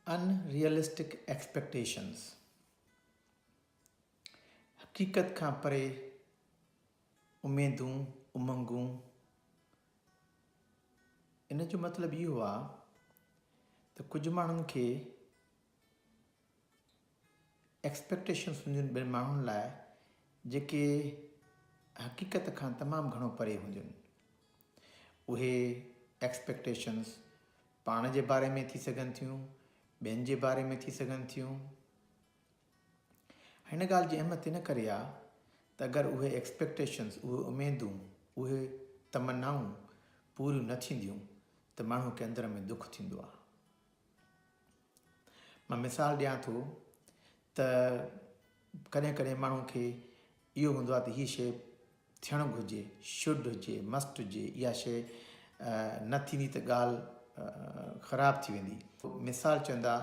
ان realistic expectations, حقيقت کان پري اميدون، امنگون، ان جو مطلب اهو آهي ته ڪجهه ماڻهن کي ايڪسپيڪٽيشنز هونديون ٻين ماڻهن لاء جيڪي حقيقت کان تمام گهڻو پري هونديون. اهي ايڪسپيڪٽيشنز پاڻ جي باري ۾ ٿي سگهن ٿيون، ٻين جي باري ۾ ٿي سگهن ٿيون. هن ڳالهه جي اهميت ان ڪري آهي ته اگر اهي ايڪسپيڪٽيشنز، اهي اميدون، اهي تمنائون پوريون نه ٿينديون ته ماڻهو کي اندر ۾ دک ٿيندو آهي. مان مثال ڏيان ٿو ته ڪڏهن ڪڏهن ماڻهو کي اهو هوندو آهي ته هي شي ٿيڻ گهرجي شڊ هجي مسٽ هجي اها شي نه ٿيندي ته ڳالهه خراب ٿي ويندي مثال چوندا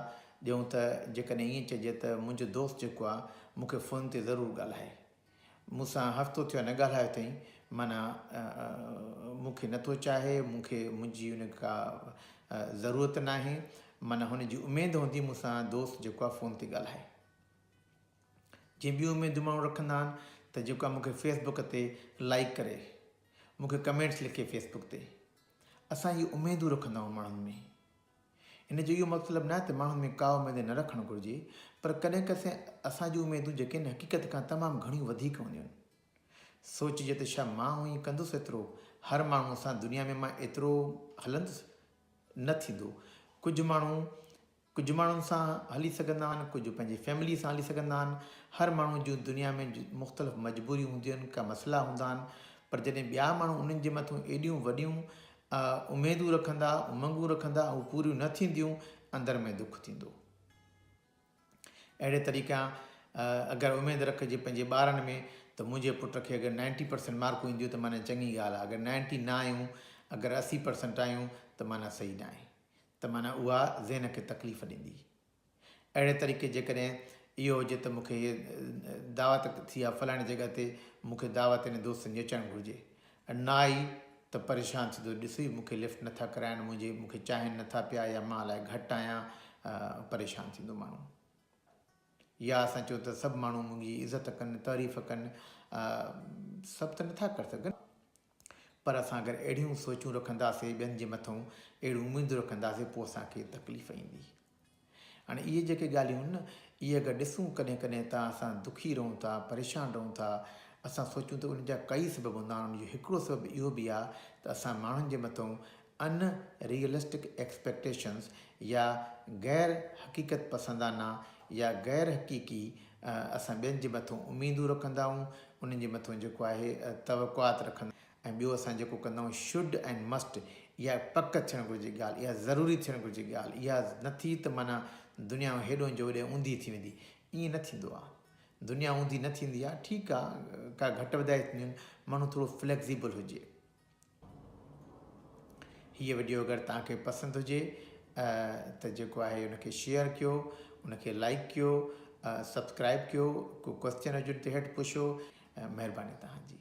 ڏيون ته جيڪڏهن ائين چئجي ته منهنجو دوست جيڪو آهي مون کي فون تي ضرور ڳالهائي مون سان هفتو ٿيو نه ڳالهايو اٿئي، معنيٰ مون کي نٿو چاهي، مون کي منهنجي ان ڪا ضرورت ناهي، معنيٰ هن جي اميد هوندي مون سان دوست جيڪو آهي فون تي ڳالهائي. جيئن ٻيون اميدون ماڻهو رکندا آهن ته جيڪو آهي مون کي فيس بڪ تي لائيڪ ڪري، مون کي ڪمينٽس لکي فيس بڪ تي، اسان اهي اميدون رکندا آهيون ماڻهن ۾. ان جو اهو مطلب ناهي ته ماڻهن ۾ ڪا اميدين نه رکڻ گهرجي، پر ڪڏهن ڪسين اسان جون اميدون جيڪين حقيقت کان تمام گهڻيون وڌيڪ هونديون سوچجي ته ڇا مان هونء ئي ڪندس ايترو، هر ماڻهوء سان دنيا ۾ مان ايترو هلندس؟ نه ٿيندو. ڪجهه ماڻهو ڪجهه ماڻهن سان هلي سگهندا آهن، ڪجهه پنهنجي فيمليء سان هلي سگهندا آهن، هر ماڻهوء جون دنيا ۾ مختلف مجبوريون هونديون آهن، ڪا مسئلا هوندا آهن، پر جڏهن ٻيا ماڻهو انهن جي مٿون ايڏيون وڏيون اهي اميدون رکندا، امنگون رکندا ۽ اهي پوريون نه ٿينديون، اندر ۾ دک ٿيندو. اهڙي طريقي اگر اميد رکجي پنهنجي ٻارن ۾ ته منهنجي پٽ کي اگر نائنٽي پرسنٽ مارڪون اينديون ته معنيٰ چڱي ڳالهه آهي، اگر نائنٽي نه آيون، اگر اسي پرسنٽ آيون ته معنيٰ صحيح ناهي، ته معنيٰ اها ذهن کي تڪليف ڏيندي. اهڙي طريقي جيڪڏهن اهو هجي ته مون کي هيء دعوت ٿي آهي فلاڻي جڳهه تي مون کي دعوت انهن دوستن جي اچڻ گهرجي نه آئي ته پريشان ٿيندو ڏس هي مون کي لفٽ نه ٿا ڪرائن منهنجي مون کي چاهين نه ٿا پيا يا مان الائي گهٽ آهيان پريشان ٿيندو ماڻهو يا اسان چون ته سڀ ماڻهو منهنجي عزت ڪن تعريف ڪن سڀ ته نه ٿا ڪري سگهن پر اسان اگر اهڙيون سوچون رکنداسين ٻين جي مٿئون اهڙيون اميدون رکنداسين پوء اسان کي تڪليف ايندي. هاڻي اهي جيڪي ڳالهيون آهن اهي اگر ڏسون ڪڏهن ڪڏهن ته اسان دکي رهون ٿا پريشان رهون ٿا اسان سوچون ته ان جا ڪئي سبب هوندا آهن ان جو هڪڙو سبب اهو به آهي ته اسان ماڻهن جي مٿئون ان ريئلسٽڪ ايڪسپيڪٽيشنز يا غير حقيقت پسندانه يا غير حقيقي اسان ٻين جي مٿو اميدون رکندا آهيون انهن جي مٿو جيڪو آهي توقعات رکندا ۽ ٻيو اسان جيڪو ڪندا آهيون شڊ اينڊ مسٽ اها پڪ ٿيڻ گهرجي ڳالهه اها ضروري ٿيڻ گهرجي ڳالهه اها نه ٿي ته معنيٰ دنيا هيڏهن جو هوڏهن اوندهي ٿي ويندي ائين نه ٿيندو آهي دنيا اوندهي نه ٿيندي آهي ٺيڪ آهي ڪا گهٽ وڌائي ٿينديون آهن ماڻهو ٿورو فليڪزيبل هجي. هيء وڊيو اگر توهان کي پسند هجي ته جيڪو آهي ان کي شيئر ڪيو ان کي لائيڪ ڪيو سبسڪرائيب ڪيو ڪو ڪوسچن هجن ته هيٺ پڇو مهرباني توهان جي.